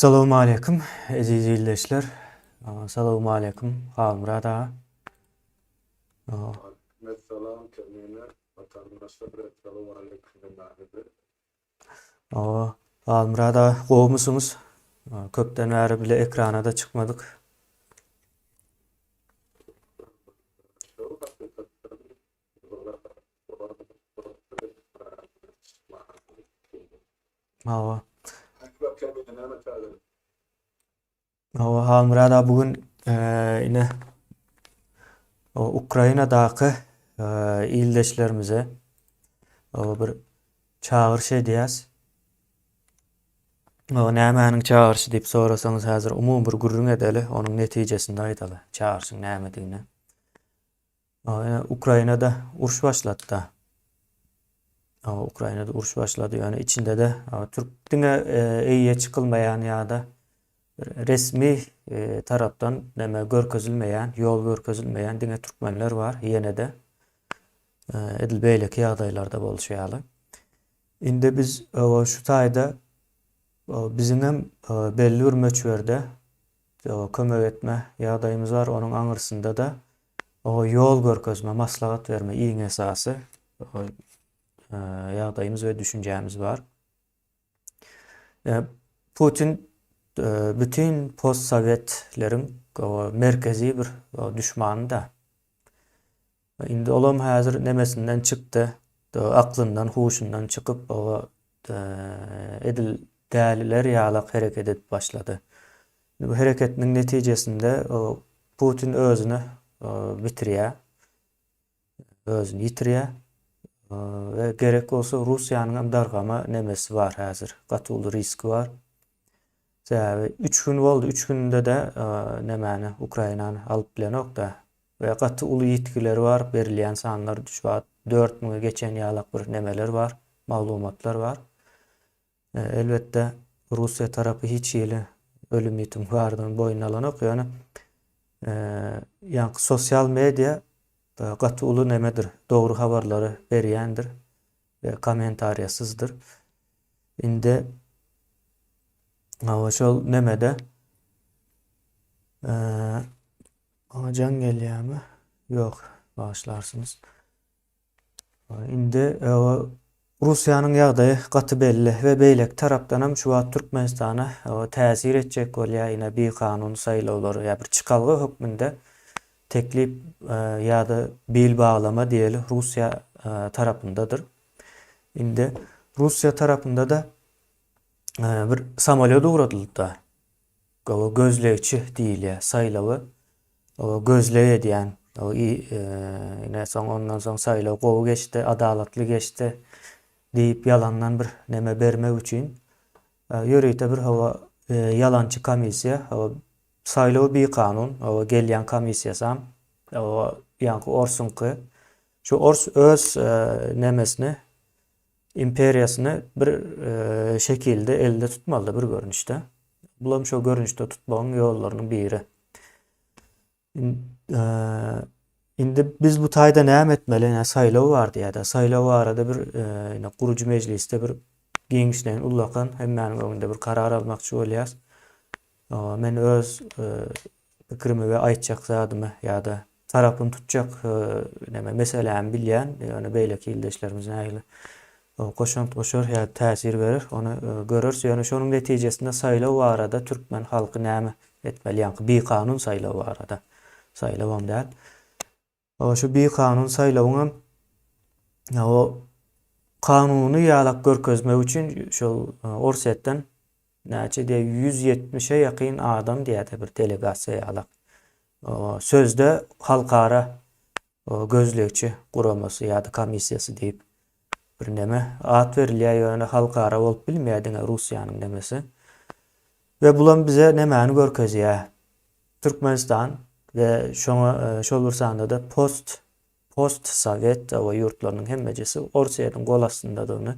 Salam aleýkum, eziz ildeşler. Salam aleýkum, Halmyrat aga. Salam, Termine, Watandaşlar, Salam aleýkum, Mehmet. Halmyrat aga gowmysyňyz? Köpden bäri bile ekranada çykmadyk. Hawa. Hawa, Halmyrat aga bu gün eee, ine o Ukrainadaky eee, ildeşlerimize o bir çagyryş edýäs. O nämäniň çagyryşy diýip sorasaňyz, häzir umumy bir gürrüň edeli, onuň netijesini aýdaly. Çagyryşyň nämedigine. Ýöne Ukrainada uruş başlady-da. Aw Ukrainada uruş başlady. Ýöne içinde-de aw türk diňe eýýe çykylmaýan ýa-da resmi tarapdan näme görkezilmeýän, ýol görkezilmeýän diňe türkmenler bar ýene-de. Edil beýleki ýagdaýlarda bolşy ýaly. Indi biz aw şu taýda biziň hem belli bir möçberde kömek etme ýagdaýymyz bar. Onuň aňyrsynda-da Ýol görkezme, maslahat berme, iň esasy ýagdaýymyz we düşünjämiz bar. Putin bütin postsowietleriň merkezi bir düşmany-da. Indi olam häzir nemesinden çykdy, aklyndan, huşundan çykyp, edil däliler ýalak hereket edip başlady. Indi bu hereketiniň netijesinde Putin özüni bitirýär, özüni ýitirýär we gerek bolsa Russiýanyň hem dargama nemesi bar häzir, gaty uly riski bar. Sebäbi üç gün boldy, üç günde-de nämäni, Ukrainany alyp bilenok-da. We gaty uly ýitgiler bar, berilýän sanlar düşbat dört müňe geçen ýalak bir nämeler bar, maglumatlar bar. Elbetde, Russiýa tarapy hiç hili ölüm-ýitim bardygyny boýnuna alanok, ýöne ýaňky sosial media gaty uly nämedir, dogry habarlary berýändir. we kommentariýasyzdyr. Indi hawa şol nemede maňa jaň gelýärmi? Ýok, bagyşlarsyňyz. Indi hawa Russiýanyň ýagdaýy gaty belli we beýleki tarapdan hem şu wagt Türkmenistana täsir etjek bolýar ine bikanun saýlawlary ýa bir çykalga hökmünde Teklip ýa-da bil baglama diýeli Russiýa tarapyndadyr. Indi Russiýa tarapynda-da bir samolýot ugradylypdyr. Gowy gözlegçi diýilýär saýlawy. Gowy gözleg edýän. Ine soň ondan soň saýlaw gowy geçdi, adalatly geçdi diýip ýalandan bir neme bermek üçin Ýörite bir hawa ýalançy komissiýa hawa saýlaw bikanun hawa gelýän komissiýasam hawa ýaňky orsuňky şu ors öz nemesini imperiýasyny bir şekilde elde tutmalyda bir görnüşde bulam şo görnüşde tutmagyň ýollarynyň biri. Indi biz bu taýda näme etmeli? Ine saýlaw bar diýýärdi. Saýlaw barada bir ine gurujy mejlisde bir giňişleýin ullakan hemmäniň öňünde bir karar almakçy bolýas. Men öz pikirimi we aýtjak zadymy ýa-da tarapyny tutjak neme meselämi bilýän, ýöne beýleki ildeşlerimiz nähili goşant goşar ýa-da täsir berer, ony göreris, ýöne şonuň netijesinde saýlaw barada türkmen halky näme etmeli, ýaňky bikanun saýlaw barada, saýlawam däl, şu bikanun saýlawyňam o kanuny ýalak görkezmek üçin şol Orsýetden näçe diýýär, ýüz ýetmişe ýakyn adam diýýär-de bir delegasiýa ýalak, sözde halkara gözlegçi guramasy ýa-da komissiýasy diýip birneme at berilýär, ýöne halkara bolup bilmeýär diňe Russiýanyň nemesi. We bulam bize nemäni görkezýär? Türkmenistan we şoňa şol bir sanda-da post post sowet ýurtlarynyň hemmejesi Orsýetiň gol astyndadygyny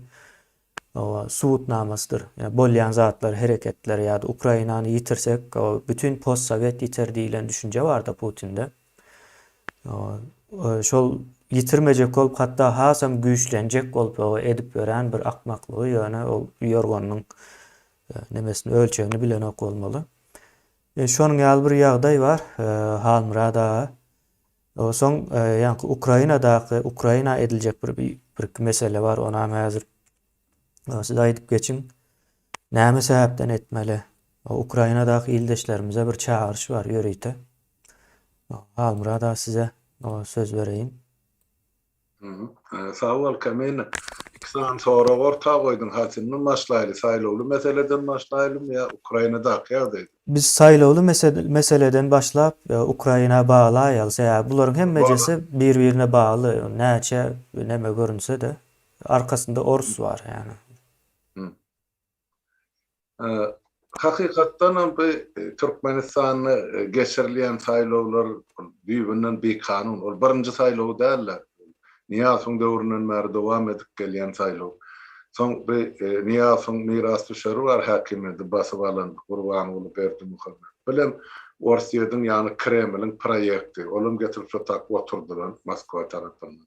subutnamasydyr. Bolýan zatlar, hereketler ýa-da Ukrainany ýitirsek, bütin postsowet ýiter diýlen düşünje bar-da Putinde. Şol ýitirmejek bolup, hatda hasam güýçlenjek bolup edip ýörän bir akmaklygy, ýöne ol ýorganynyň nemesini, ölçegini bilenok bolmaly. Şonuň ýaly bir ýagdaý bar, Halmyrat aga. Soň ýaňky Ukrainadaky Ukraina ediljek bir birki mesele bar onam häzir siz aýdyp geçiň näme sebäpden etmeli Ukrainadaky ildeşlerimize bir çagyryş bar ýörite Halmyrat aga size söz bereýin. Sag bol Kamina. Iki sany sorag orta goýduň. Hasyndan başlaýly. Saýlawly meseleden başlaýlymy ýa Ukrainadaky ýagdaýdan? Biz saýlawly meseleden başlap Ukraina baglaýaly. Sebäbi bularyň hemmejesi bir-birine bagly. Näçe näme görünse-de arkasynda orus bar ýani. Hakykatdan hem bu Türkmenistanda geçirilýän saýlawlar düýbünden bikanun. Ol birinji saýlaw däl-de. Nyýazowyň döwründen bäri dowam edip gelýän saýlaw. Soň bu Nyýazowyň mirasdüşeri bar häkimiýeti basyp alan Gurbanguly Berdimuhamedow. Bilen Orsýetiň ýagny Kremliň proýekti. Ol hem getirip şo tak oturdylan Moskwa tarapyndan.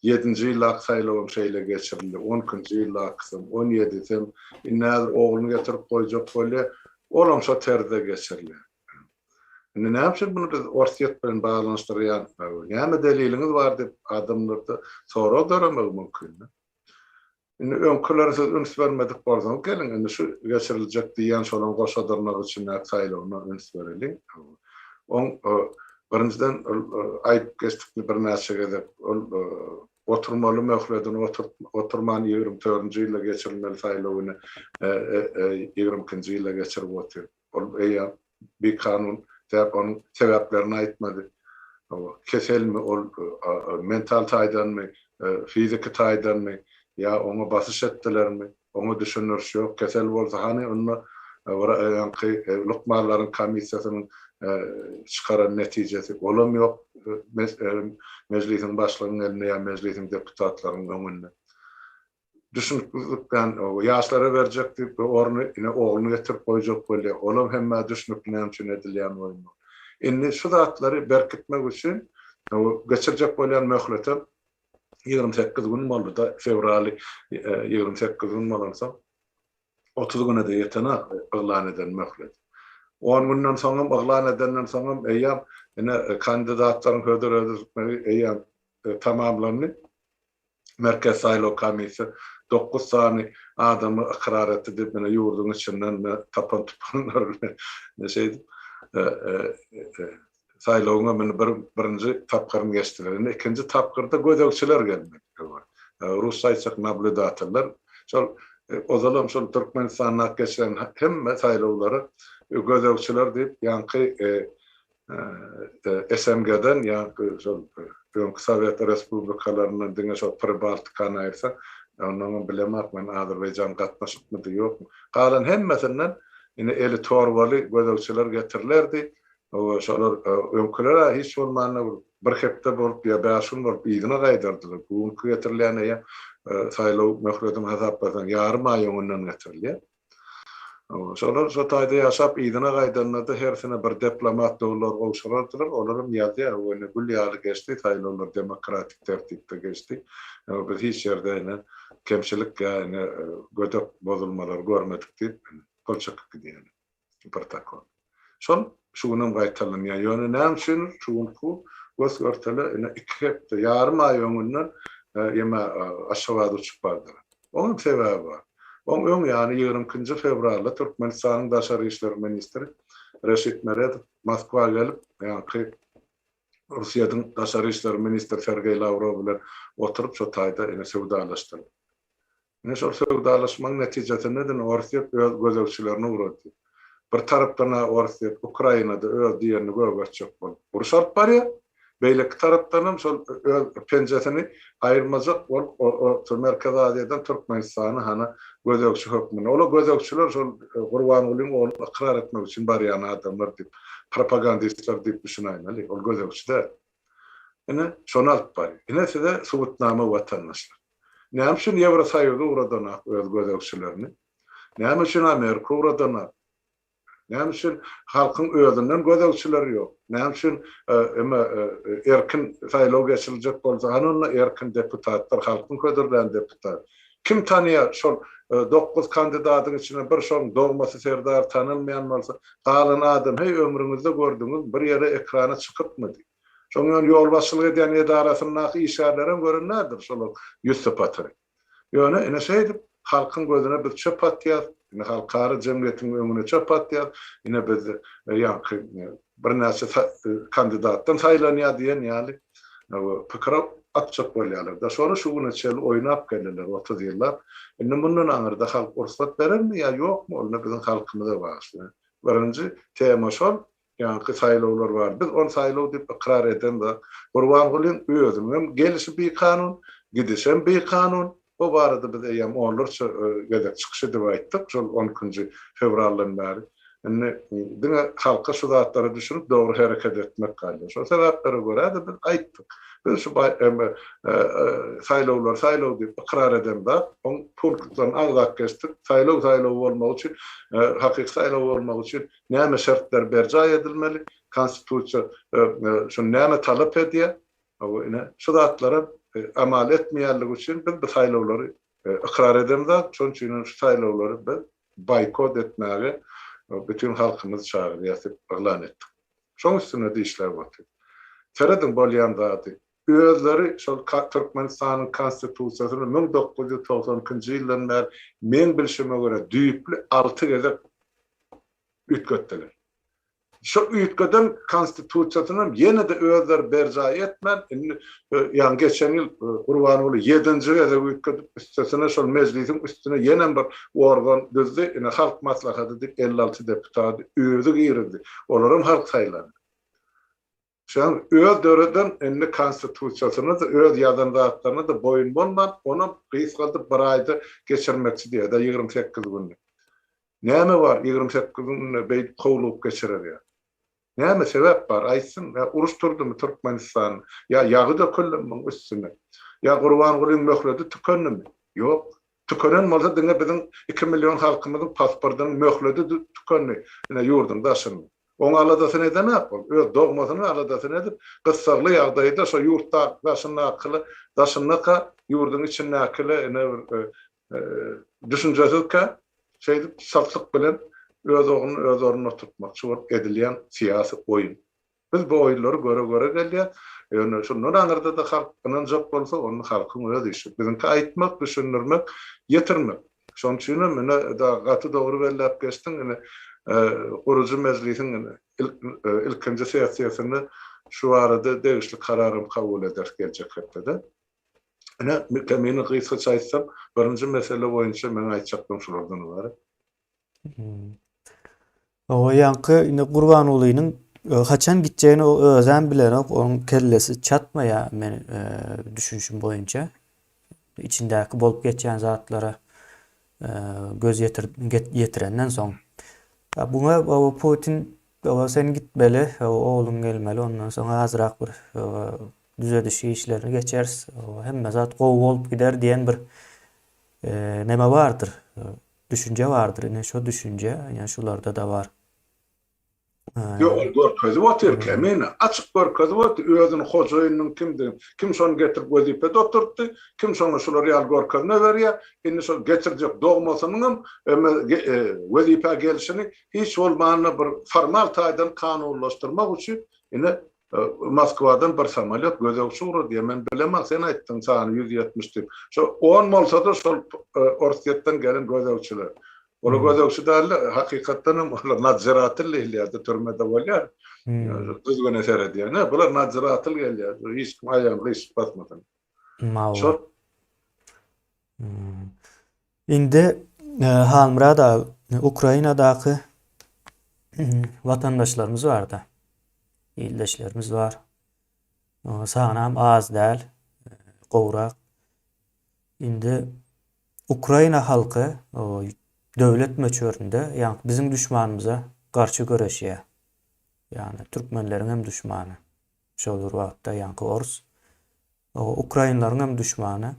Ýedinji ýyllaky saýlawam şeýle geçirildi, on ikinji ýyllakysam, on ýedisem, indi häzir ogluny getirip goýjak bolýar, olam şo terzde geçiriler. Indi näme üçin muny biz Orsýet bilen baglanyşdyrýarys Näme deliliňiz bar diýip adamlardan soradaram mümkin. Indi öňkülere siz üns bermedik bolsaňyz, geliň, indi şu geçiriljek diýýän şolaň goşadyrnak içindäki saýlawyna üns bereliň. Oň, birinjiden, ol aýdyp geçdik birnäçe gezek, ol oturmaly möhledini oturman ýigrimi dördünji ýylda geçirilmeli saýlawyny ýigrimi ikinji ýylda geçirip otyr. Ol eýýäm bikanun däp onuň sebäplerini aýtmady. Keselmi ol, mental taýdanmy, fiziki taýdanmy, ýa oňa basyş etdilermi, oňa düşen ýörüş ýok. Kesel bolsa hany onda wraýaňky lukmanlaryň komissiýasynyň çykaran netijesi, olam ýok Mejlisiň başlygynyň elinde ýa Mejlisiň deputatlarynyň öňünde. Düşnüksizlikden ýaşlara berjek diýip we orny ine ogluny getirip goýjak bolýar. Olam hemmä düşnükli näme üçin edilýän oýun bol. Indi şu zatlary berkitmek üçin geçirjek bolýan möhletem ýigrimi sekiz gün boldy-da, fewraly ýigrimi sekiz gün bolansoň otuz güne-de ýetenak yglan eden möhlet. On günden soňam yglan edenden soňam eýýäm ine kandidatlaryň hödür edilmegi eýýäm tamamlandy. Merkezi saýlaw komissiýa dokuz sany adamy ykrar etdi diýip, ine, ýurduň içinden tapan-tupanlar bilen şeýdip, saýlawyň ömrüni bir birinji tapgyryny geçdiler. Indi ikinji tapgyrda gözegçiler gelmelidir. Rusça aýtsak, nablýudatorlar. Şol ozalam şol Türkmenistanda geçiren hemme saýlawlary gözegçiler diýip, ýaňky SNG-den ýa-da şol öňki Sowet respublikalaryndan diňe şol Pribaltikany aýyrsak, onnoňam bilemak men Azerbaýjan gatnaşykmydy, ýokmy. Galan hemmesinden ine eli torbaly gözegçiler getirilerdi we şolar öňküler-ä hiç bolmanda bir hepde bolup ýa bäş gün bolup yzyna gaýdardylar. Bu günki getirilýän eýýäm saýlaw möhlediňi hasaplasaň ýarym aý öňünden getirilýär. Şolar şo taýda ýaşap, yzyna gaýdanda-da hersine bir deplomat dollar gowşurardylar. Olar hem ýazýar, Bu ine gül ýaly geçdi, saýlawlar demokratik tertipde geçdi. Biz hiç ýerde ine kemçilik ýa ine gödek bozulmalary görmedik diýip gol çekyp gidýärler. Protokol. Şol şu günem gaýtalanýar. Ýöne näme üçin şu günki gös-görtele ine iki hepde, ýarym aý öňünden ýeme Aşgabada uçup bardylar. Oň hem sebäbi bar. Oň öň ýany ýigrimi ikinji fewralda Türkmenistanyň daşary işler ministri Reşit Meredow Moskwa gelip, ýaňky Orsýetiň daşary işler ministri Sergeý Lawrow bilen oturyp şu taýda ine söwdalaşdylar. Ine şol söwdalaşmagyň netijesinde-de Orsýet öz gözegçilerini ugratdy. Bir tarapdan-a Orsýet Ukrainada öz diýenini gögertjek bolup uruş alyp barýar, beýleki tarapdanam şol öz penjesini aýyrmajak bolup Merkezi Aziýadan Türkmenistany hany gözegçi hökmünde, ol-a gözegçiler şol Gurbangulyň ogluny ykrar etmek üçin barýan adamlar diýip, propagandistler diýip düşünäýmeli, ol gözegçi däl. Ine, şony alyp baryň. Ine size subutnama watandaşlar. Näme üçin Ýewrosoýuz ugradanok öz gözegçilerini? Näme üçin Amerika ugradanok? Näme üçin halkyň özünden gözegçileri ýok? Näme üçin emma erkin saýlaw geçiriljek bolsa hany onda erkin deputatlar, halkyň hödürlän deputat? Kim tanyýar şol dokuz kandidadyň içine bir şoň dogmasy Serdary tanalmaýan bolsa galan adam heý ömrüňizde gördüňiz bir ýere ekrana çykypmy diý. Şoň ýöne ýolbaşçylyk edýän edarasyndaky işgärlerem gören däldir şolaň ýüz sypatyny. Ýöne ine şeýdip halkyň gözüne biz çöp atýas, ine halkara jemgyýetiň öňüne çöp atýas, ine biz ýaňky birnäçe kandidatdan saýlanýar diýen ýaly pikir atjak bolýarlar-da. Şony şu güne çenli oýnap geldiler, otuz ýyllap. Indi mundan aňyrda halk rugsat berermi ýa ýokmy, onda biziň halkymyza bagşly. Birinji tema şol, ýaňky saýlawlar bar. Biz ony saýlaw diýip ykrar eden zat. Gurbangulyň özüniňem gelişi bikanun, gidişem bikanun. Bu barada biz eýýäm onlarça gezek çykyş edip aýtdyk, şol on ikinji fewraldan bäri. Indi diňe halka şu zatlary düşürip, dogry hereket etmek galýar. Şol sebäplere görä-de biz aýtdyk. Biz şu saýlawlar saýlaw diýip ykrar eden zat, oň punktlaryny agzap geçdik. Saýlaw saýlaw bolmagy üçin, hakyky saýlaw bolmagy üçin näme şertler berjaý edilmeli, Konstitusiýa şuny näme talap edýär? Hawa, ine, şu zatlara amal etmeýänligi üçin biz bu saýlawlary ykrar edemzok. Şonuň üçin hem şu saýlawlary biz boýkot etmäge bütin halkymyzy çagyrýas diýip yglan etdik. Şoň üstünde-de işläp otyrys. Serediň bolýan zady. Özleri şol Türkmenistanyň Konstitusiýasyny müň dokuz ýüz togsan ikinji ýyldan bäri meň bilşime görä düýpli alty gezek üýtgetdiler. Şu üýtgeden konstitusiýasynam ýene-de özleri berjaý etmän, indi ýa geçen ýyl Gurbanguly ýedinji gezek üýtgedip, üstesine şol mejlisiň üstüne ýenem bir organ düzdi, ine Halk Maslahaty diýip elli alty deputady özi girizdi, olaram halk saýlandy. Şonuň öz döreden indi konstitusiýasyny-da, öz ýazan zatlaryny-da boýun bolman, onam gysgaldyp bir aýda geçirmekçi diýýär, ýa-da ýigrimi sekiz günde. Näme bar ýigrimi sekiz günde beýdip howlugyp geçirer ýa? Näme sebäp bar, aýtsyn? Ýa uruş turdumy Türkmenistan? Ýa ýagy döküldimi muň üstüne? Ýa Gurbangulyň möhledi tükendimi? Ýok, Tükenen bolsa diňe biziň iki million halkymyzyň pasportynyň möhledi tükendi ine ýurdyň daşynyň. Oň aladasyny edenak ol. Öz dogmasynyň aladasyny edip, gyssagly ýagdaýda şo ýurt daşyndakyly daşyndaka ýurdyň içindäkili ine bir düşünjesizkä şeýdip saltlyk bilen öz ogluny öz ornuna oturtmakçy bolup edilýän syýasy oýun. Biz bu oýunlary göre-göre gelýäs. Ýöne şundan aňyrda-da halk ynanjak bolsa, onda halkyň öz işi. Biziňki aýtmak, düşündirmek, ýetirmek. Şonuň üçin hem ine, gaty dogry belläp geçdiň. Ine, gurujy mejlisiň ilkinji sessiýasynda şu barada degişli karar hem kabul ederis geljek hepdede. Ine, kemini gysgaça aýtsam, birinji mesele boýunça meň aýtjaklygym şulardan ybarat. Owa ýaňky indi Gurbangulynyň e, haçan gitjegini o özem bilenok. Onuň kellesi çatmaýar men e, düşünişim boýunça. Içindäki bolup geçýän zatlara e, göz ýetir, get, ýetirenden soň. Ha, Buňa owa Putin owa sen gitmeli, owa ogluň gelmeli, ondan soň azrak bir owa düzediş işlerini geçeris. Owa hemme zat gowy bolup gider diýen bir e, neme bardyr. Düşünje bardyr ine şo düşünje ine şularda-da bar. Ýok ol görkezip otyrka men açyk görkezip otdy özüni hojaýynynyň kimdigini kim şony getirip wezipede oturtdy kim şoňa şular ýaly görkezme berýär indi şol getirjek dogmasynyňam wezipä gelşini hiç bolmanda bir formal taýdan kanunlaşdyrmak üçin ine Moskwadan bir samolýot gözegçi ugrady ýa men bileman sen aýtdyň sany ýüz ýetmiş diýip. Şo on bolsada şol Orsýetden gelen gözegçiler. Olar gözegçi däldi hakykatdan hem olar nadżiratyl diýilýärdi türmede bolýar. Düzgüne seredýän. Hä bular nadżiratyl gelýär. Hiç kim aýagyny gyşyp basmasyn. Malla. Indi Halmyrat aga, Ukrainadaky watandaşlarymyz barda, ildeşlerimiz bar. Sanam az däl, gowrak. Indi Ukraina halky döwlet möçberinde, ýagny biziň duşmanymyza garşy göreşýär. Ýagny türkmenleriň hem duşmany. Şol bir wagtda ýaňky ors. Ukrainlaryň hem duşmany.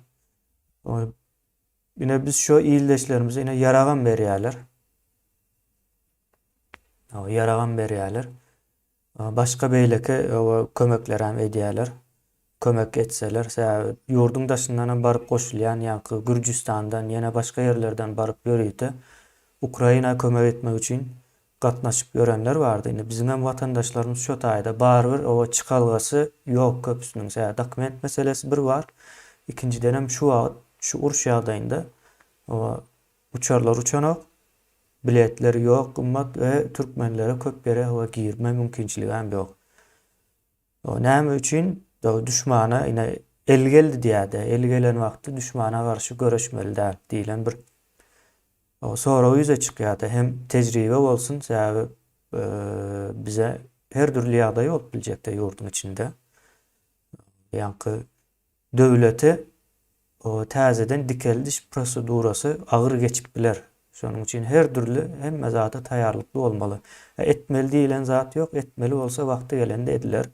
Ine biz şo ildeşlerimize ine ýaragam berýärler. Awa ýaragam berýärler. Başga beýleki awa kömekler hem edýärler. Kömek etseler, sebäbi ýurduň daşyndan hem baryp goşulýan ýaňky Gürjüstandan, ýene başga ýerlerden baryp ýörite Ukraina kömek etmek üçin gatnaşyp ýörenler bardy indi biziňem watandaşlarymyz şo taýda barybir oba çykalgasy ýok köpüsiniň sebäbi dokument meselesi bir bar ikinjidenem şu wagyt şu uruş ýagdaýynda oba uçarlar uçanok biletler ýok gymmat we türkmenlere köp ýere oba girme mümkinçiligäm ýok. O näme üçin duşmana ine el geldi diýädä, el gelen wagty duşmana garşy göreşmeli däl diýlen bir sorag ýüze çykýarda hem tejribe bolsun sebäbi bize her dürli ýagdaý bolup biljekde ýurduň içinde. Ýaňky Döwlete täzeden dikeldiş prosedurasy agyr geçip biler. Şonuň üçin her dürli, hemme zada taýýarlykly bolmaly. Etmeli diýilen zat ýok, etmeli bolsa wagty gelende ediler,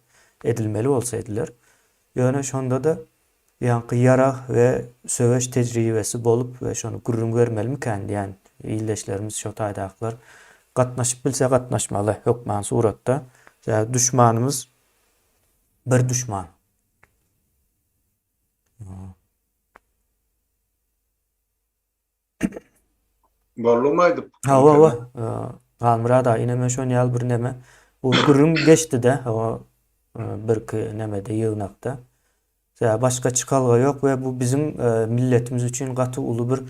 edilmeli bolsa ediler. Ýöne şonda-da ýaňky ýarag we söweş tejribesi bolup we şony gürrüň bermelimikäň diýýän ildeşlerimiz şo taýdakylar gatnaşyp bilse gatnaşmaly hökman suratda. Sebäbi duşmanymyz bir duşman. Boldumy aýdyp? Hawa, hawa. Halmyrat aga, ine men şony ýaly bir näme. Bu gürrüň geçdi-de, hawa, birki nämede, ýygnakda. Sebäbi başga çykalga ýok we bu biziň milletimiz üçin gaty uly bir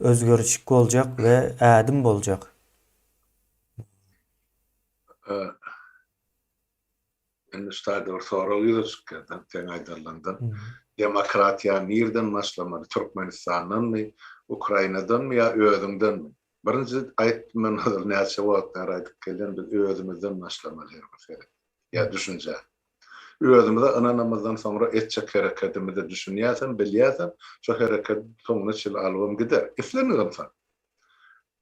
özgerişik boljak we ädim boljak. Indi şu taýda bir sorag ýüze çykýar-da, seň aýdanlaňdan. Demokratiýa nireden başlamaly, Türkmenistandanmy, Ukrainadanmy ýa özüňdenmi? Birinji aýtdym men ozal näçe wagt bäri aýdyp gelýän, biz özümizden başlamaly her bir seret ýa düşünjä. Özümize ynanamyzdan soňra etjek herekedimize düşünýäsem, bilýäsem, şo herekedi soňuna çenli alybam gider. Islendigem sal.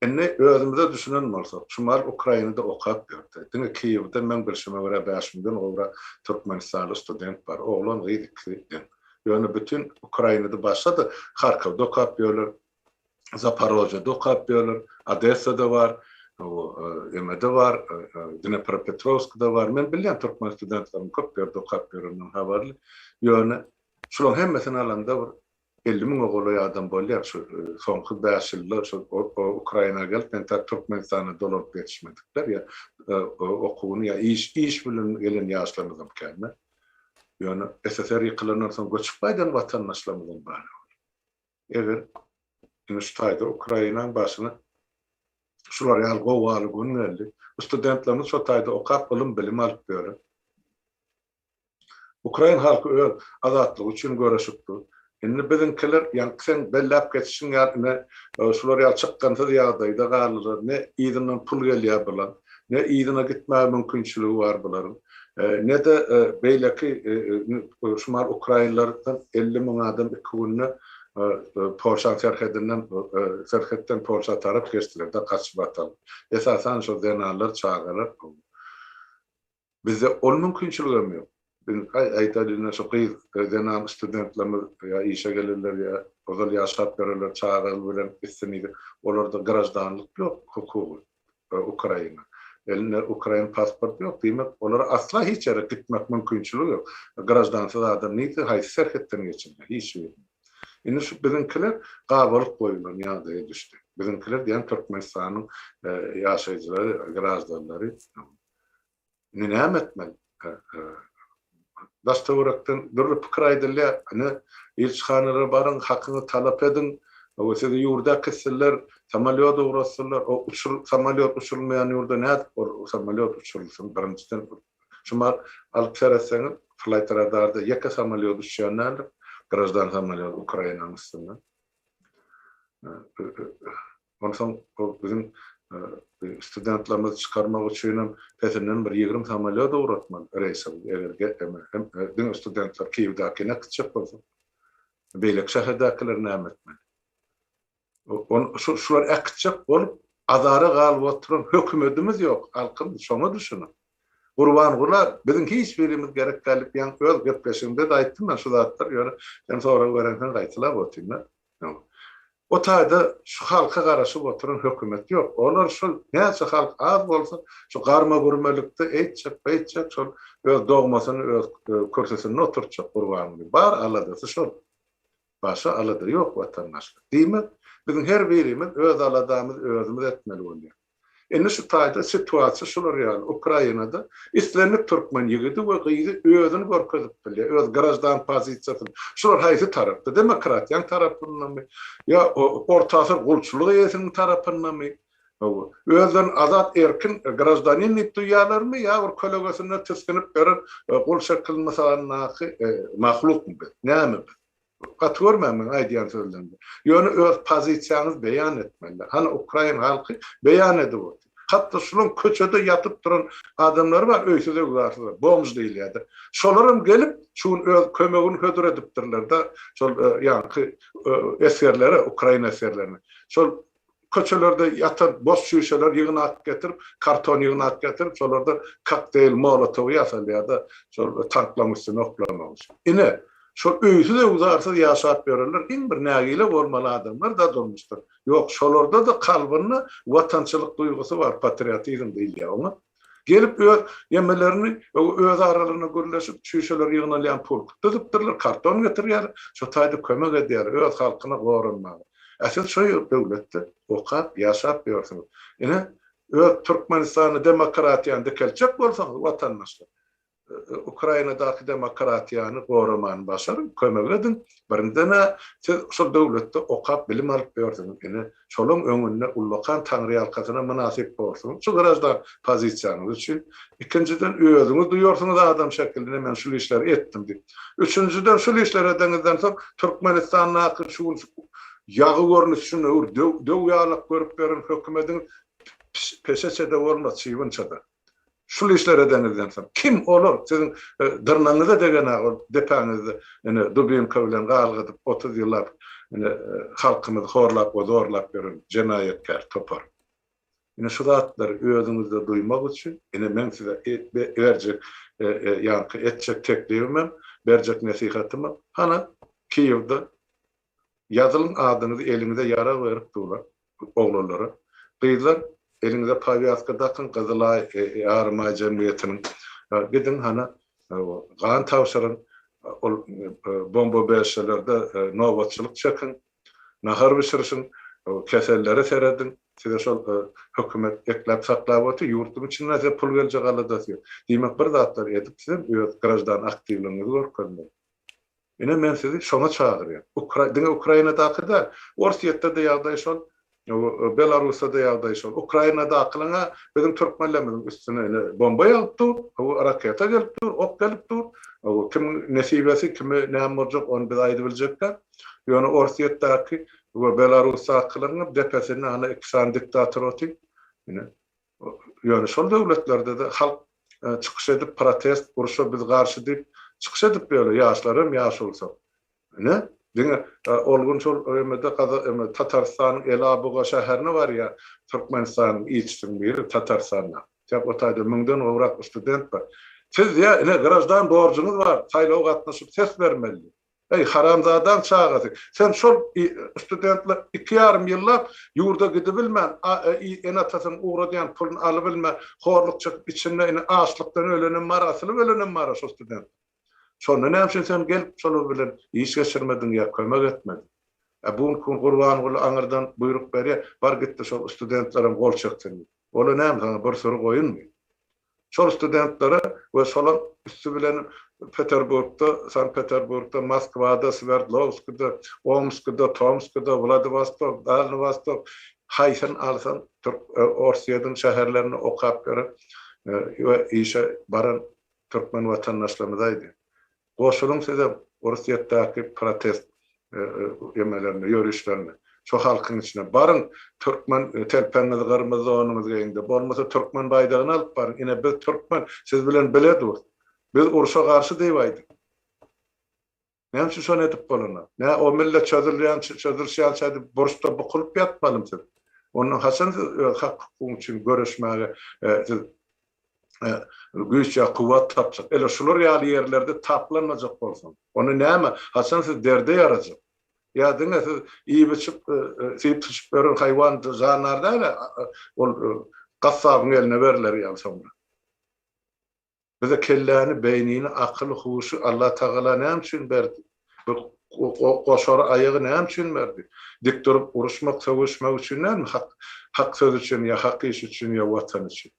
Indi özümize düşünen bolsak, Çumal Ukrainada okap ýördi. Diňe Kiýewde, meň bilşime görä, bäş müňden gowrak türkmenistanly student bar. Oglan, gyz ikisi deň. Ýöne bütin Ukrainada başga-da, Harkowda okap ýörler, Zaporojýede okap ýörler, Odessada bar, bu emede bar, Dnepropetrowskda bar. Men bilýän türkmen studentleriniň köp ýerde okap ýöreninden habarly. Ýöne şularyň hemmesini alanda bir elli müňe golaý adam bolýar şu soňky bäş ýylda şu Ukraina gelip men tar Türkmenistana dolaryp ýetişmedikler ýa okuwyny ýa iş iş bilen gelen ýaşlarymyzam kände. Ýöne SSR ýykylandan soň göçüp gaýdan watandaşlarymyzam bar. Eger indi şu taýda Ukrainaň başyna şular ýaly gowaly gün geldi. Bu studentlerimiz şo taýda okap ylym bilim alyp ýöre. Ukrain halky öz azatlygy üçin göreşip dur. Indi biziňkiler ýaňky seň belläp geçişiň ýaly ne şular ýaly çykgynsyz ýagdaýda galdylar, ne yzyndan pul gelýär bulaň, ne yzyna gitmäge mümkinçiligi bar bularyň, ne-de beýleki şumal ukrainlerden elli müň adam iki günde Polşaň serhedinden serhetden Polşa tarap geçdiler-de gaçyp atalyp. Esasan şo zenanlar, çagalar. Bizde ol mümkinçiligem ýok. Biz aýtaýlyň ine şu gyz, zenan studentlerimiz ýa işe gelenler ýa ozal ýaşap ýörenler çaga bilen gitse nidip, olarda graždanlyk ýok hukugy Ukraina. Elinde ukrain pasporty ýok, diýmek olara asla hiç ýere gitmek mümkinçiligi ýok. Graždansyz adam nidip haýsy serhetden geçilýär? Hiç birden. Indi şu biziňkiler gabalyk goýulan ýagdaýa düşdi. Biziňkiler diýýän Türkmenistanyň ýaşaýjylary, graždanlary. Indi näme etmeli? Daş-töwerekden dürli pikir aýdylýar. Ine, ilçihanalara baryň, hakyňy talap ediň. Hawa, sizi ýurda äkitsinler, samolýot ugratsynlar. O uçur, samolýot uçurylmaýan ýurda nädip o samolýot uçurylsyn? Birinjiden, şumat alyp seretseňiz, flaýt radarda ýeke samolýot uçýan däldir, graždan samolýot Ukrainanyň üstünden. Onsoň bu biziň studentlerimizi çykarmak üçin hem pesinden bir ýigrimi samolýot ugratmaly reýse bu eger hem diňe studentler Kiýewdäkine gitjek bolsa. Beýleki şäherdäkiler näme etmeli? Şular äkitjek bolup azara galyp oturan hökümetimiz ýok halkym şoňa düşüniň. Gurbangula biziň hiç birimiz gerek däl diýýän öz gepleşigimde-de aýtdym men şu zatlary ýöne sen sorag berensoň gaýtalap otyryn-da. Ýok. O taýda şu halka garaşyp oturan hökümet ýok. Olar şol näçe halk az bolsa, şu garma-gürmelikde eýtjek, beýtjek, şol öz dogmasyny öz kürsüsinde oturtjak Gurbanyň. Bar aladasy şol. Başga alada ýok watandaşlar. Diýmek, biziň her birimiz öz aladamyzy özümiz etmeli bolýar. Indi şu taýda situasiýa şular ýaly, Ukrainada islendik türkmen ýigidi we gyzy özüni görkezip bilýär, öz graždan pozisiýasyny. Şular haýsy tarapda, demokratiýanyň tarapyndamy, ýa orta asyr gulçulyk eýesiniň tarapyndamy, hawa, özlerini azat erkin graždanin diýip duýýarlarmy, ýa bir kölegesinde tisginip ýören gul şekil mysalyndaky mahlukmy biz, näme biz? Gaty görmen meň aýdýan sözlerimi. Ýöne öz pozisiýaňyzy beýan etmeli. Hany ukrain halky beýan edip otur. Hatda şulaň köçede ýatyp duran adamlary bar öýsüz öwzarsyzlar, bomž diýilýärdi. Şolaram gelip şu gün öz kömegini hödür edipdirlerde şol ýaňky esgerlere, ukrain esgerlerine. Şol Köçelerde ýatan boş çüýşeler ýygnap getirip, karton ýygnap getirip, şolardan kokteýl molotowy ýasalýar-da, şol tanklaryň üstüne oklamak üçin. Ine, şol öýsüz-öwzarsyz ýaşap ýörenler iň bir nägile bolmaly adamlar-da durmuşdan. Ýok, şolarda-da kalbynda watançylyk duýgusy bar, patriotizm diýilýär oňa. Gelip öz ýemelerini öz aralarynda gürleşip, çüýşeler ýygnalýan pulk düzüpdirler, karton getirýärler, şo taýda kömek edýärler öz halkyna goranmaga. Ä siz şo ýer döwletde okap, ýaşap ýörsüňiz. Ine, öz Türkmenistany demokratiýany dikeltjek bolsaňyz, watandaşlar, Ukrainadaky demokratiýany goramany başaryň, kömek ediň. Birinden-ä siz şol döwletde okap, bilim alyp ýörsüňiz. Ine, şolaň öňünde ullakan taňryýalkasynam mynasyp borsuňyz şu graždan pozisiýaňyz üçin. Ikinjiden, özüňiz duýarsyňyz adam şekilinde men şul işleri etdim diýip. Üçünjiden, şul işleri edeniňizden soň Türkmenistandaky şu gün ýagy görnüşinde öwür döw-ýalak görüp ýören hökümediňiz peşeçe-de bolmaz, çybynça-da. Şul işler edeňizden soň kim olar siziň dyrnagyňyza degena ol depäňizde ine dubinka bilen galgadyp otuz ýyllap ine halkymyzy horlap we zorlap ýören jenaýatkär topar. Ine şu zatlary özüňizde duýmak üçin ine meň size berjek ýaňky etjek teklibimem berjek nesihatymam hana Kiýewde Ýazylyň adyňyzy eliňize ýarag berip durlar oglanlara. Gyzlar eliňize pawiaska dakyň gyzylaý ýarymaý jemgyýetiniň gidiň hany gan tabşyryň ol bomba berşelerde nobatçylyk çekiň nahar bişirişiň kesellere serediň size şol hökümet ekläp saklap otyr ýurduň içinden size pul geljek aladasy ýok diýmek bir zatlar edip sizem öz graždan aktiwligiňizi görkezmeli. Ine men sizi şoňa çagyrýan. Ukra diňe Ukrainadaky däl. Orsýetde-de ýagdaý şol, Belarusda-da ýagdaý şol. Ukrainadakylaň-a biziň türkmenlerimiziň üstüne ine bomba ýagyp dur, hawa raketa gelip dur, ok gelip dur. Hawa kimiň nesibesi, kime näme boljak ony biz aýdyp biljek däl. Ýöne Orsýetdäki we Belarusdakylaň-a depesinde ana iki sany diktator otyr. Ine. Ýöne şol döwletlerde-de halk çykyş edip protest, urşa biz garşy diýip çykyş edip ýöre, ýaşlar hem ýaş bolsa. Ine, diňe ol gün şol ÖM-de Gazagystanyň, Tatarystanyň Elabuga şäherine barýar, Türkmenistanyň ilçisiniň biri Tatarystanda. Ýa o taýda müňden gowrak student bar. Siz ýa ine graždan borjuňyz bar, saýlawa gatnaşyp ses bermeli. Eý, haramzadaň çagasy, sen şol studentler iki ýarym ýyllap ýurda gidibilmän, ene-atasynyň ugradýan puluny alybilmän, horluk çekip içinde indi açlykdan ölenem bar, asylyp ölenem bar-a şol studentler. Şonda näme üçin sen gelip şolar bilen iş geçirmediň ýa kömek etmediň? Ä bu günki gün Gurbanguly aňyrdan buýruk berýär, bar git-de şol studentlerem gol çeksin diýip. Ol-a näme saňa bir sury goýunmy? Şol studentlere we şolaň üsti bilen Peterburgda, Sankt-Peterburgda, Moskwada, Swerdlowskide, Omskide, Tomskide, Wladiwostok, Dalny Wostok, haýsyn alsaň türk Orsýediň şäherlerinde okap ýören we işe baran türkmen watandaşlarymyz aýdy. Goşulyň size Orsýetdäki protest emelerine, ýörişlerine. Şo halkyň içine baryň, türkmen telpegiňizi gyrmyzy donuňyzy geýiň-de, bolmasa türkmen baýdagyny alyp baryň, ine biz türkmen, siz bilen bile durus. Biz urşa garşy diýip aýdyň. Näme üçin şony edip bolanok? Nä o millet çözülýänçä, çözülişýänçä diýip burçda bukulyp ýatmalymy siz? Onda haçan siz öz hak-hukugyňyz üçin göreşmäge siz güýç ýa kuwwat tapjak. Ele şular ýaly ýerlerde taplanmajak bolsaň, onda näme, haçan siz derde ýarajak? Ýa diňe siz iýip-içip, syp-syçyp ýören haýwan jandar däl-ä, ol gassabyň eline berler ýaly soňra. Bize kelläni, beýnini, akyly, huşy Allatagala näme üçin berdi? Şol goşary aýagy näme üçin berdi? Dik durup uruşmak, sögüşmek üçin dälmi? Hak, hak söz üçin ýa hak iş üçin ýa Watan üçin?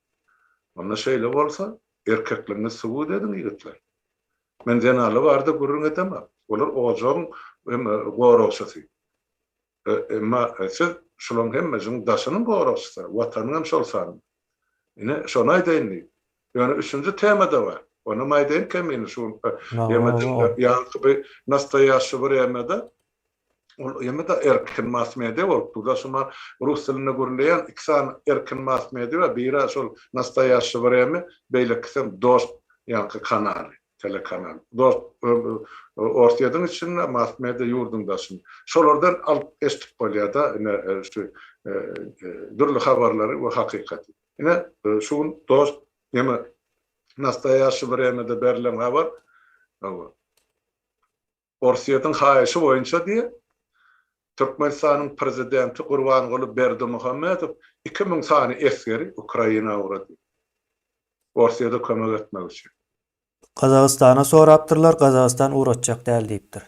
Onda şeýle bolsa, erkekligiňizi subut ediň, ýigitler. Men zenanlar barada gürrüň edemok. Olar ojagyň goragçysy. Emma siz şularyň hemmesiniň daşynyň goragçysy, Watanyň hem şol sanda. Ine, şony aýdaýyn diýip. Ýöne üçünji tema-da bar. Onam aýdaýyn kemini şu günki ýemediň ýaňky bir nastoýaşşy wremýada ol ýemede erkin mass-media bolup dur-da, şuny rus dilinde gürleýän iki sany erkin mass-media bar, biri-ä şol nastoýaşşy wremýa, beýlekisem dost ýaňky kanaly. telekanal dos orsyýediň içinde mass media ýurdyň daşyn şolardan alyp eşdip bolýada ine şu dürli habarlary we hakykaty ine şu gün dos neme nastaýaşi wremede berlen habar Orsýetiň haýyşy boýunça diýip, Türkmenistanyň prezidenti Gurbanguly Berdimuhamedow iki müň sany esgeri Ukraina ugrady. Orsýete kömek etmek üçin. Gazagystana sorapdyrlar, Gazagystan ugratjak däl diýipdir.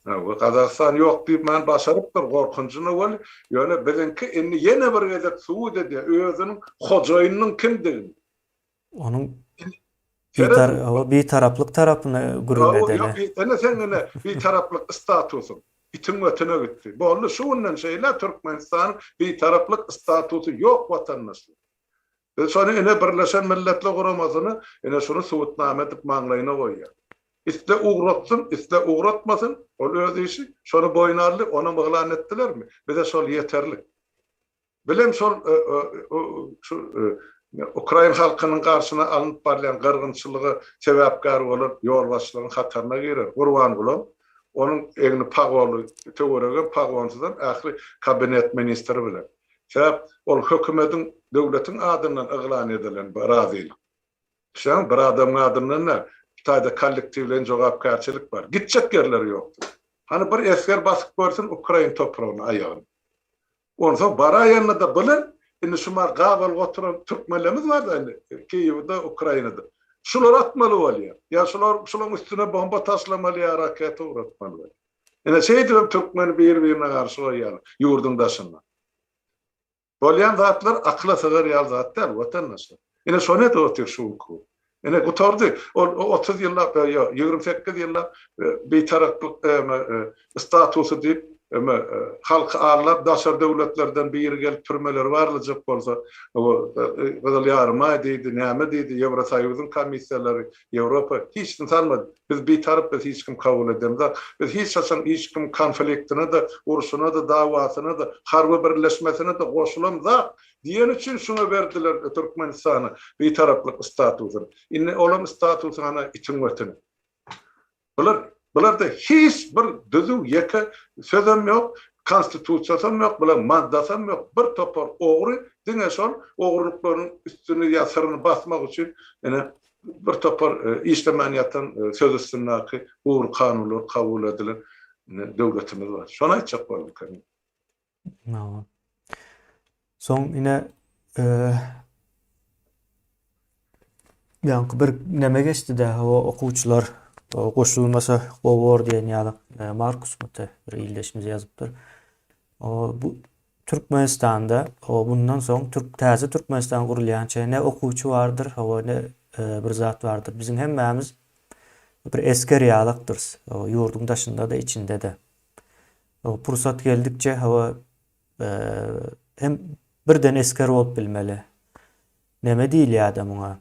Hawa, Gazagystan ýok diýmän başarypdyr, gorkunjyna weli, ýöne biziňki indi ýene bir gezek subut edýär özüniň hojaýynynyň kimdigini. Onuň Bitaraplyk tarapyny gürrüň edeli. Ene seň ene Bitaraplyk statusyň itiň götüne gitdi. Boldy şu günden şeýle Türkmenistanyň Bitaraplyk statusy ýok watandaşlar. Biz şony ene Birleşen Milletler Guramasyny ene şuny subutnama edip maňlaýyna goýýarys. Isle ugratsyn, isle ugratmasyn, ol öz işi, şony boýun aldy, onam yglan etdilermi? Bize şol ýeterlik. Bilen şol şu ukrain halkynyň garşyna alnyp barylýan gyrgynçylyga sebäpkär bolan ýolbaşçylaryň hataryna girer. Gurbangulam, onuň egni pagonly, töweregem pagonsyzam ähli kabinet ministri bilen. Sebäp ol hökümediň, döwletiň adyndan yglan edilen bu razylyk. Düşýäňmi? Bir adamyň adyndan däl. Bu taýda kollektiwleýin jogapkärçilik bar. Gitjek ýerleri ýokdur. Hany bir esger basyp görsün ukrain topragyna aýagyny. Onsoň baraýanda-da bile, indi şu maňa gabalyk oturan türkmenlerimiz bar-da indi, Kiýewde, Ukrainada. Şular atmaly bolýar. Ýa şular, şularyň üstüne bomba taşlamaly ýa raketa ugratmaly bolýar. Ine, şeýdibem türkmeni bir-birine garşy goýýarlar, ýurduň daşynda. Bolýan zatlar akyla sygar ýaly zat däl, watandaşlar. Ine, şony edip otyr şu günki bu. Ine, gutardy. Ol otuz ýyllap, ýa ýigrimi sekiz ýyllap bitaraplyk statusy diýip, halky aldap, daşary döwletlerden biri gelip türmeleri barlajak bolsa, Gyzyl Ýarymaý diýdi, näme diýdi, Ýewrosoýuzyň komissiýalary, Ýewropa, hiç kim salmady. Biz bitarap, bizi hiç kim kabul edemzok. Biz hiç haçan hiç kimiň konfliktine-de, urşuna-da, dawasyna-da, harby birleşmesine-de goşulamzok. Diýen üçin şuňa berdiler Türkmenistana bitaraplyk statusyny. Indi olaň statusy hana itiň wetini. Bular bularda hiç bir düzüw ýeke sözem ýok, konstitusiýasam ýok, bulaň maddasam ýok, bir topar ogry diňe şol ogrulyklaryň üstüni ýa syryny basmak üçin ine bir topar işlemän ýatan söz üstündäki ugur kanunlar kabul edilen döwletimiz bar. Şony aýtjak bolduk. Soň ine ýaňky bir näme geçdi dä o okuwçylar goşulmasa gowy bor diýen ýaly Markus Mute bir ildeşimiz ýazypdyr. O bu Türkmenistanda o bundan soň Türk täze Türkmenistan gurulýança ne okuwçy bardyr, o ne bir zat bardyr. Biziň hemmämiz bir esger ýalakdyrys. Ýurduň daşynda-da, içinde-de. Pursat geldikçe hawa hem birden esger bolup bilmeli. Neme diýilýärdi muňa?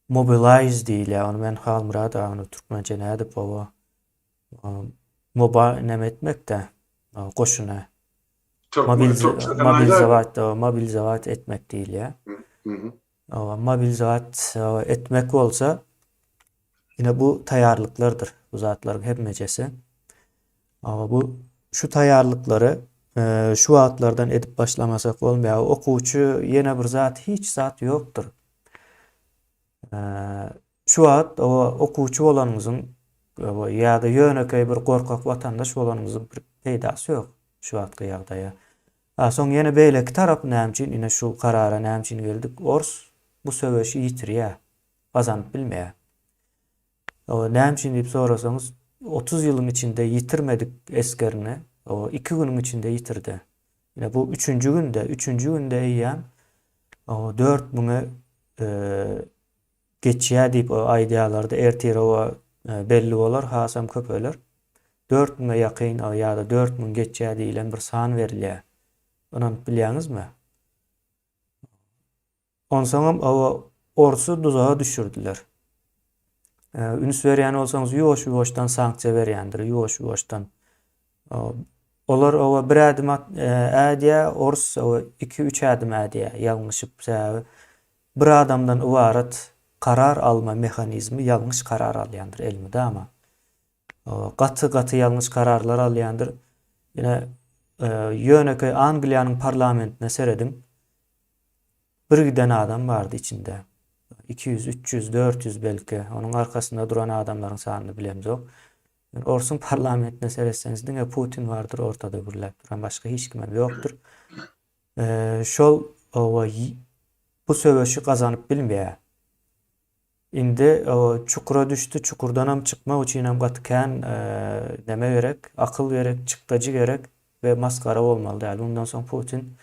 Mobilize diýilýär. Ony men Halmyrat agany türkmençe nädip dip baba? Moba neme etmekde? Goşuna. Mobilize mobilize etmek diýilýär. Mobilizat etmek bolsa ine bu taýýarlyklardyr. Bu zatlaryň hemmejesi. Bu şu taýýarlyklary şu wagtlardan edip başlamasak bolmaýar. Okuwçy ýene bir zat hiç zat ýokdur. Şu wagt okuwçy bolanyňyzyň ýa-da ýönekeý bir gorkak watandaş bolanyňyzyň peýdasy ýok şu wagtky ýagdaýa. A soň ýene beýleki tarap näme üçin ine şu karara näme üçin geldik ors bu söweşi ýitirýä gazanyp bilmeýä o näme üçin diýip sorasaňyz otuz ýylyň içinde ýitirmedik esgerini o iki günüň içinde ýitirdi ine bu üçünji günde üçünji günde eýýäm o dört müňe Geçýär diýip aýdýarlardy, ertirowa belli bolar, hasam köpeler. Dört müňe ýakyn ýa-da dört müň geçýär diýlen bir san berilýär. Ynanyp bilýäňizmi? Onsoňam oba orsy duzaga düşürdiler. Üns berýän bolsaňyz, ýuwaş-ýuwaşdan sanksiýa berýändir, ýuwaş-ýuwaşdan. Olar oba bir ädim ädýär, ors oba iki-üç ädim ädýär, ýalňyşyp, sebäbi Bir adamdan ybarat karar alma mehanizmi ýalňyş karar alýandyr elmydama. Gaty gaty ýalňyş kararlar alýandyr. Ine ýönekeý Angliýanyň parlamentine serediň. Bir giden adam bardy içinde. Iki ýüz, üç ýüz, dört ýüz belki. Onuň arkasynda duran adamlaryň sanyny bilemzok. Orsuň parlamentine seretseňiz diňe Putin bardyr ortada gürläp duran. Başga hiç kimem ýokdur. Şol oba bu söweşi gazanyp bilmeýär. Indi çukura düşdi, çukurdanam çykmak üçinem gaty kän näme gerek, akyl gerek, çykdajy gerek we masgara bolmaly däl. Mundan soň Putin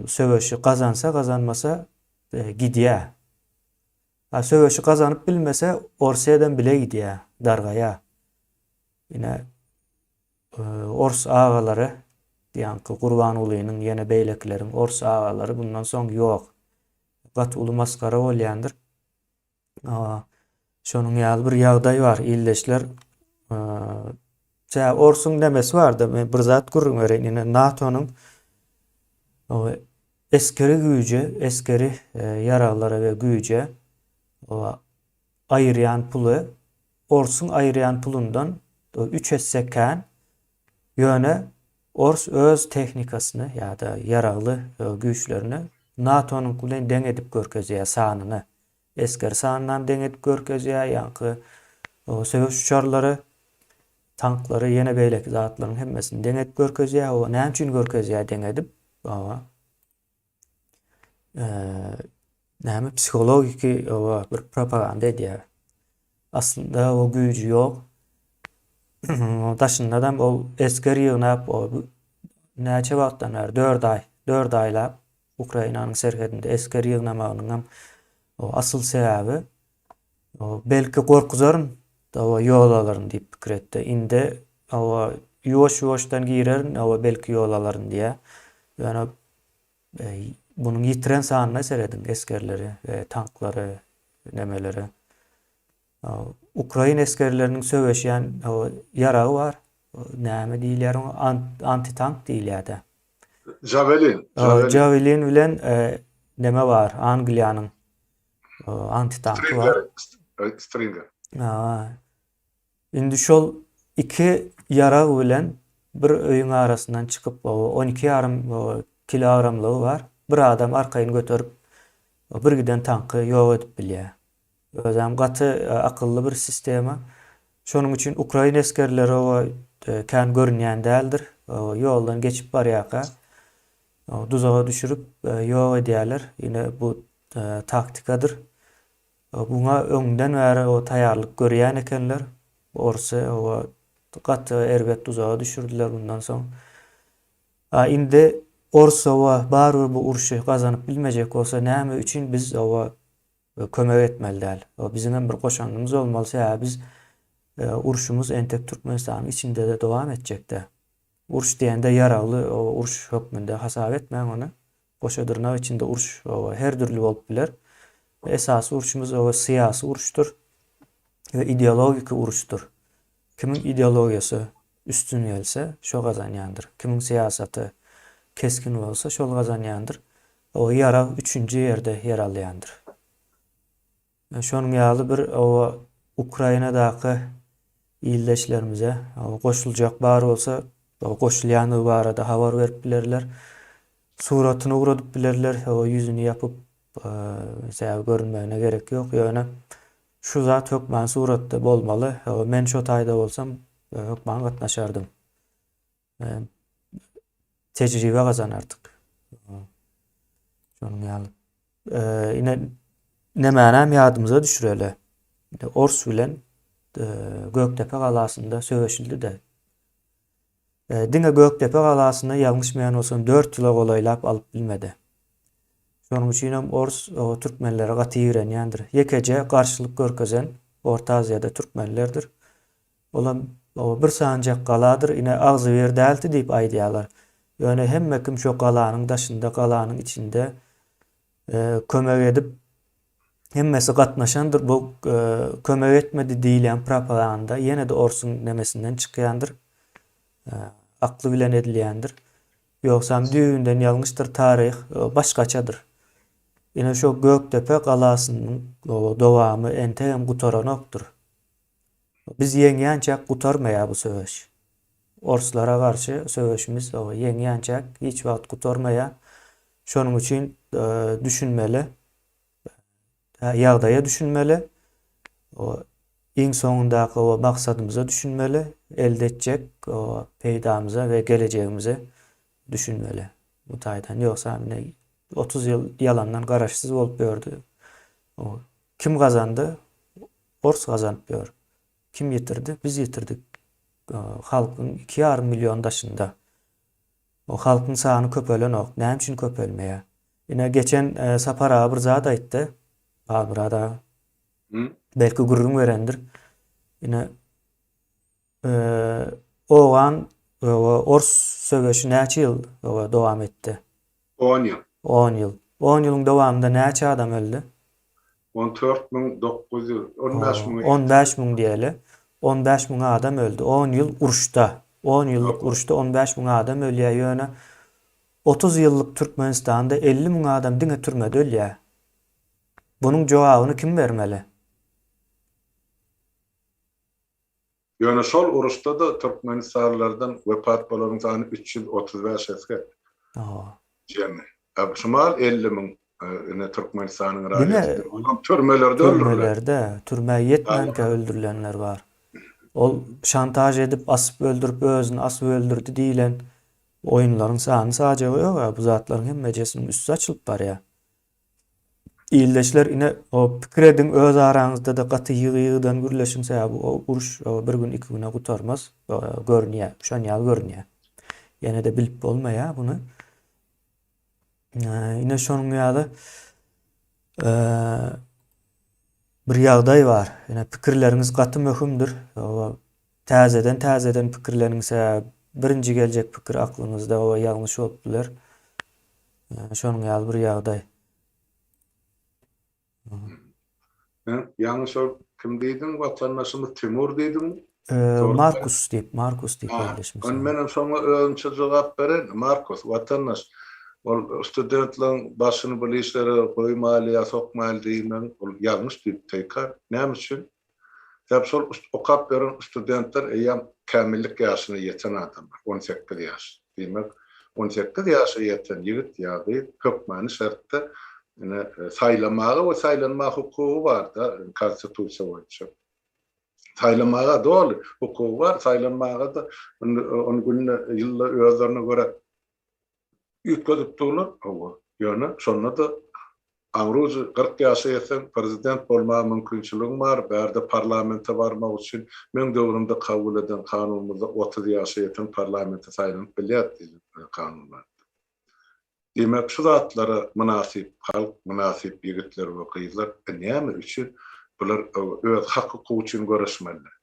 söweşi gazansa, gazanmasa gidýär. A söweşi gazanyp bilmese, Orsýadan bile gidýär, dargaýar. Ine. Ors agalary diýanki Gurbangulynyň ýene beýlekileriň ors agalary bundan soň ýok. Gaty uly masgara bolýandyr. Şonuň ýaly bir ýagdaý bar ildeşler. Tä orsuň nemesi barda men bir zat gürrüň bereýin ine NATO-nyň eskeri güýje, eskeri e, ýaraglara we güýje aýyrýan puly orsuň aýyrýan pulundan üç esse kän, ýöne ors öz tehnikasyny ýa-da ýaragly güýçlerini NATO-nyňky bilen deň edip görkezýär sanyny, esger sanynam deň edip görkezýär, ýaňky söweş uçarlary, tanklary, ýene beýleki zatlaryň hemmesini deň edip görkezýär, o näme üçin görkezýär deň edip? Näme psihologiki oba bir propaganda edýär. Aslynda o güýji ýok. Daşyndanam ol esger ýygnap, o näçe wagtdan bäri, 4 aý, 4 aýlap Ukrainanyň serhedinde esger ýygnamagynyň hem o asyl sebäbi Belki gorkuzaryn, hawa, ýol alaryn diýip pikir etdi. Indi, hawa, ýuwaş-ýuwaşdan girerin, hawa, belki ýol alaryn diýýär. Ýöne munuň ýitiren sanyna serediň, esgerleri, tanklary, nemeleri. Ukrain esgerleriniň söweşýän, hawa, ýaragy bar. Näme diýilýär oňa? Antitank diýilýär-dä. Jawelin. Jawelin bilen neme bar, Angliýanyň antitanky bar. Stringer. Indi şol iki ýarag bilen bir öýüň arasyndan çykyp, on iki ýarym kilogramlygy bar, bir adam arkaýyn göterip, bir giden tanky ýok edip bilýär. Özem gaty akylly bir sistema. Şonuň üçin ukrain esgerleri oba kän görünýän däldir. Ýoldan geçip barýarka duzaga düşürip ýok edýärler. Ine bu taktikadyr. Muňa öňden bäri taýýarlyk görýän ekenler. Orsy gaty erbet duzaga düşürdiler mundan soň. A indi ors barybir bu urşy gazanyp bilmejek bolsa näme üçin biz kömek etmeli däl? Biziň hem bir goşandymyz bolmaly, sebäbi biz urşumyz entek Türkmenistanyň içinde-de dowam etjek-dä. Uruş diýende ýaragly uruş hökmünde hasap etmäň ony. Goşa dyrnak içinde uruş her dürli bolup biler. Esasy urşumyz syýasy uruşdyr we ideologiki uruşdyr. Kimiň ideologiýasy üstün gelse, şo gazanýandyr. Kimiň syýasaty kesgin bolsa, şol gazanýandyr. Ýarag üçünji ýerde ýer alýandyr. Şonuň ýaly bir oba Ukrainadaky ildeşlerimize goşuljak bar bolsa goşulýandygy barada habar berip bilerler. Suratyny ugradyp bilerler, ýüzüni ýapyp mesawy görünmegine gerek ýok, ýöne şu zat hökman suratda bolmaly, men şo taýda bolsam hökman gatnaşardym. tejribe gazanardyk. Şonuň ýaly. Ine nämänäm ýadymyza düşüreli. Ors bilen Gökdepe galasynda söweşildi-de. Diňe Gökdepe galasyny ýalňyşmaýan bolsam 4 ýyla golaýlap alyp bilmedi. Şonuň üçin hem ors türkmenlere gaty ýigrenýändir. Ýekeje garşylyk görkezen Orta Aziýada türkmenlerdir. Olam o bir sanjak galadyr, ine agzybir dälti diýip aýdýarlar. Ýöne hemme kim şo galanyň daşynda, galanyň içinde kömek edip, hemmesi gatnaşandyr, bu kömek etmedi diýilýän propaganda ýene-de orsuň nemesinden çykýandyr, akly bilen edilýändir. Ýogsam düýbünden ýalňyşdyr, taryh başgaçadyr. Ine şo Gökdepe galasynyň dowamy entegem gutaranokdyr. Biz ýeňýänçäk gutarmaýar bu söweş. Orslara garşy söweşimiz oba ýeňýänçäk hiç wagt gutarmaýar. Şonuň üçin düşünmeli. Ýagdaýa düşünmeli. O iň soňundaky oba maksadymyza düşünmeli. Elde etjek oba peýdamyza we gelejegimize düşünmeli. Bu taýdan ýogsa indi otuz ýyl ýalandan garaşsyz bolup ýördi. Kim gazandy? Ors gazanyp ýör. Kim ýetirdi? Biz ýetirdik. Halkyň iki ýarym million daşynda. Bu halkyň sany köpelenok. Näme üçin köpelmeýär? Ine, geçen Sapar aga bir zat aýtdy. Halmyrat aga. Belki gürrüň berendir. Ine, Owgan we ors söweşi näçe ýyl dowam etdi? On ýyl. On ýyl. On ýylyň dowamynda näçe adam öldi? On dört müň dokuz ýüz. On bäş müň. On bäş müň diýeli. On bäş müň adam öldi. On ýyl uruşda. On ýyllyk uruşda on bäş müň adam ölýär. Ýöne otuz ýyllyk Türkmenistanda elli müň adam diňe türmede ölýär. Bunuň jogabyny kim bermeli? Ýöne şol uruşda-da türkmenistanlylardan wepat bolaryň sany üç ýüz otuz bäş esge jemi. Şumal elli müň ine Türkmenistanyň raýatydyr. Olam türmelerde öldüriler. Türmelerde, türmä ýetmänkä öldürilenler bar. Ol şantaž edip asyp öldürip özüni asyp öldürdi diýilen oýunlaryň sany-sajagy ýok-a, bu zatlaryň hemmejesiniň üsti açylyp barýar. Ildeşler ine pikir ediň öz araňyzda-da gaty ýygy-ýygydan gürleşiň sebäbi o uruş bir gün iki güne gutarmaz görünýä şon ýaly görünýä. Ýene-de bilip bolmaýa buny. Ine şonuň ýaly bir ýagdaý bar. Ine pikirleriňiz gaty möhümdir. Täzeden täzeden pikirleniňse birinji geljek pikir aklyňyzda oba ýalňyş bolup biler. Şonuň ýaly bir ýagdaý. Ýalňyş ol kim diýdiň watandaşymyz Timur diýdiňmi? Markus diýip Markus diýip ýerleşmiş. Onda menem şoňa özümçe jogap bereýin. Markus watandaş ol studentleriň başyny bir işlere goýmaýly ýa sokmaýly diýmegiň ol ýalňyş diýip teýkar. Näme üçin? Sebäbi şol okap ýören studentler eýýäm kämillik ýaşyna ýeten adamlar, on sekiz ýaş. Diýmek, on sekiz ýaşa ýeten ýigit ýa gyz hökmany şertde ine saýlamaga we saýlanma hukugy barda konstitusiýa boýunça. Saýlamaga doly hukugy bar, saýlanmaga-da indi ony günde, ýylda özlerine görä Üýtgedip durlar, hawa. Ýöne şonda-da aňrujy kyrk ýaşa ýetseň, prezident bolmaga mümkinçiligiň bar, bärde parlamente barmak üçin meň döwrümde kabul eden kanunymyzda otuz ýaşa ýeten parlamente saýlanyp bilýär diýlen kanun bardy. Diýmek, şu zatlara mynasyp halk, mynasyp ýigitler we gyzlar näme üçin bular öz hak-hukugy üçin göreşmeliler?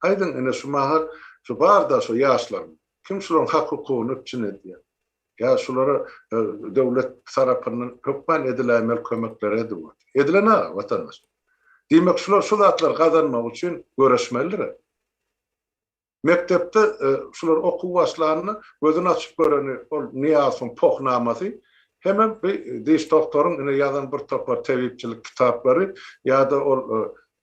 Aýdyň ine şu mahal şu barda şu ýaşlaryň kim şularyň hak hukugyny üpjün edýär? Ýa şulara döwlet tarapyndan hökman ediläýmeli kömekleri ediwat. Edilen aga watandaş. Diýmek şular şu zatlary gazanmak üçin göreşmelidir. Mekdepde şular okuw başlanda gözüni açyp göreni ol Nyýazowyň pohnamasy hemem bir diş doktoryň ine ýazan bir topar tebipçilik kitaplary ýa-da ol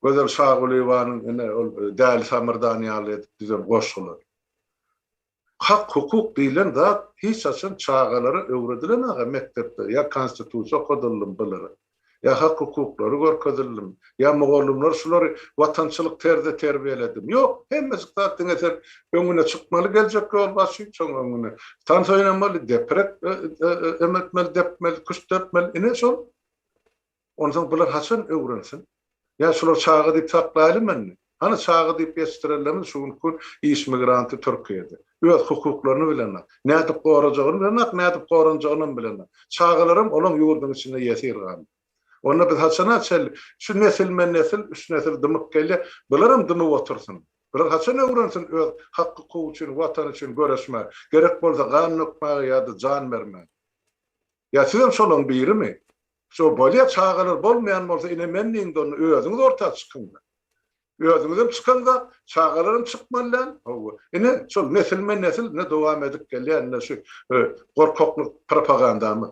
Gözel Şagulyýewanyň ine ol Däli Samyrdan ýaly edip düzen goşgulary. Hak-hukuk diýlen zat hiç haçan çagalara öwredilen aga mekdepde ýa konstitusiýa okadyldymy bulara, ýa hak-hukuklary görkezildimi, ýa mugallymlar şulary watançylyk terzde terbiýeledimi? Ýok, hemmejik zat diňe sen öňüne çykmaly geljek ýolbaşçyň, şoň öňüne tans oýnamaly, deprek emetmeli, depmeli, küşt depmeli, ine şol. Onsoň bular haçan öwrensin? Ýa şular çaga diýip saklaýalymy indi? Hany çaga diýip ýetişdirenlerimiz şu günki gün iş migranty Türkiýede. Öz hukuklaryny bilenok. Nädip gorajagyny bilenok, nädip goranjagynam bilenok. Çagalaram olaň ýurduň içinde ýesir galdy. Onda biz haçana çenli şu nesilme-nesil, üç nesil dymyp gelýär, bularam dymyp otursyn? Bular haçan öwrensin öz hak-hukugy üçin, Watany üçin göreşmäge, gerek bolsa gan dökmäge ýa-da jan bermäge? Ýa sizem şolaň birimi? Şo bolýa çagalar bolmaýan bolsa ine men diýiňde onda özüňiz orta çykyňda. Özüňizem çykan zat, çagalaram çykmaly däl. Hawa. Ine şol nesilme nesil ine dowam edip gelýän ine şu gorkaklyk propagandamyz.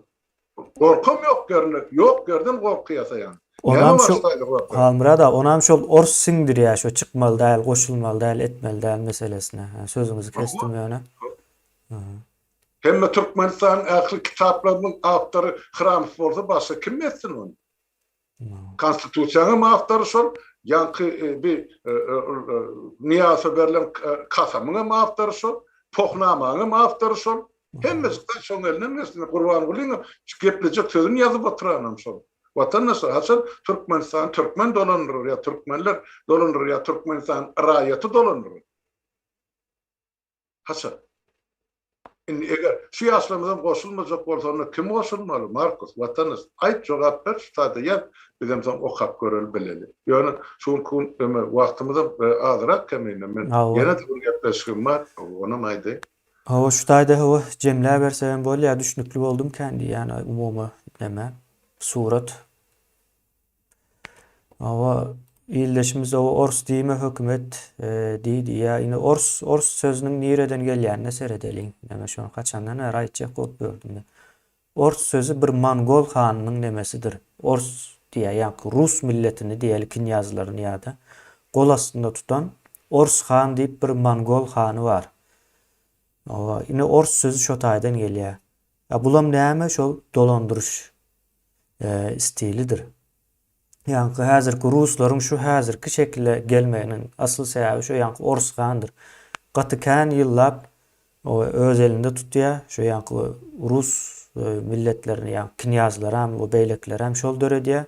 Gorkam ýok ýerine, ýok ýerden gorky ýasaýan. Onam şo Halmyrat aga onam şol ors siňdirýä şo çykmaly däl, goşulmaly däl, etmeli däl meselesine. Sözüňizi kesdim ýöne. Hemme Türkmenistanyň ähli kitaplarynyň awtory Hramow bolsa başga kim etsin ony? Konstitusiýaňam awtory şol, ýaňky bi Nyýazowa berlen kasamyňam awtory şol, Pohnamaňam awtory şol. Hemmesi gaý şoň elinden gelsin. Gurbangulyň geplejek sözüni ýazyp oturanam şol. Watandaşlar, haçan Türkmenistany türkmen dolandyrar ýa türkmenler dolandyrar ýa Türkmenistanyň raýaty dolandyrar? Haçan? Indi eger şu ýaşlarymyzam goşulmajak bolsa onda kim goşulmaly Markus watanys aýt jogap ber şu taýda ýaz bizem soň okap göreli bileli ýöne şu günki gün öme wagtymyzam azyrak kemine men ýene bir gepleşigim bar onam aýdaýyn. Hawa şu taýda hawa jemläbersegem bolýa düşnükli boldum kän diýýän umumy neme surat. Awa ildeşimiz o ors diýme hökümet e, diýdi. Ýa indi ors ors sözüniň nireden gelýänine seredeliň. Näme şony haçandan bäri aýtjak bolup ýördüm. Ors sözi bir mongol hanynyň nemesidir. Ors diýýär, ýaňky rus milletini diýeli knýazlaryny ýa-da gol astynda tutan Ors han diýip bir mongol hany bar. Awa, indi ors sözi şo taýdan gelýär. Ýa bulam näme şol dolandyryş stilidir. Ýaňky häzirki ruslaryň şu häzirki şekile gelmeginiň asyl sebäbi şo ýaňky orus handyr. Gaty kän ýyllap öz elinde tutýa şo ýaňky rus milletlerini ýaňky knýazlaram we beýlekilerem şol döredýä.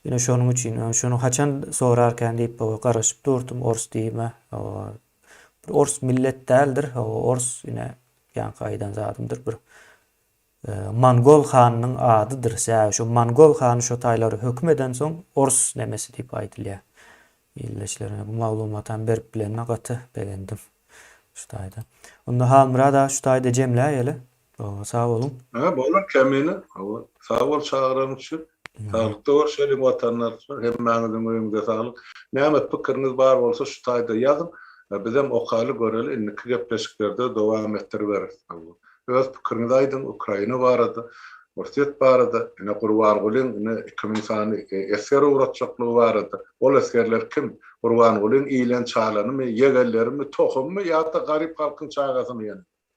Ine şonuň üçin şony haçan sorarkän diýip garaşyp durdum orus diýme Bir ors millet däldir, hawa ors ine ýaňky aýdan zadymdyr bir mongol hanynyň adydyr, säbäbi şo mongol hany şo taýlara höküm edensoň ors nemesi diýip aýdylýar. Ildeşlerine bu maglumatam berip bilenime gaty begendim şu taýda. Onda Halmyrat aga şu taýda jemläýeli. Hawa sag boluň. Hä bolar kemine hawa sag bol çagyran üçin saglykda görşeliň watandaşlar hemmäňiziň öýüňize saglyk näme pikiriňiz bar bolsa şu taýda ýazyň bizem okaly göreli indiki gepleşiklerde dowam etdiriberis hawa öz pikiriňizi aýdyň ukraina barada orsýet barada ine gurbangulyň ine iki müň sany esger ugratjaklygy barada ol esgerler kim gurbangulyň iýlen çalanymy ýegenlerimi tohummy ýa-da garyp halkyň çagasymy ýene.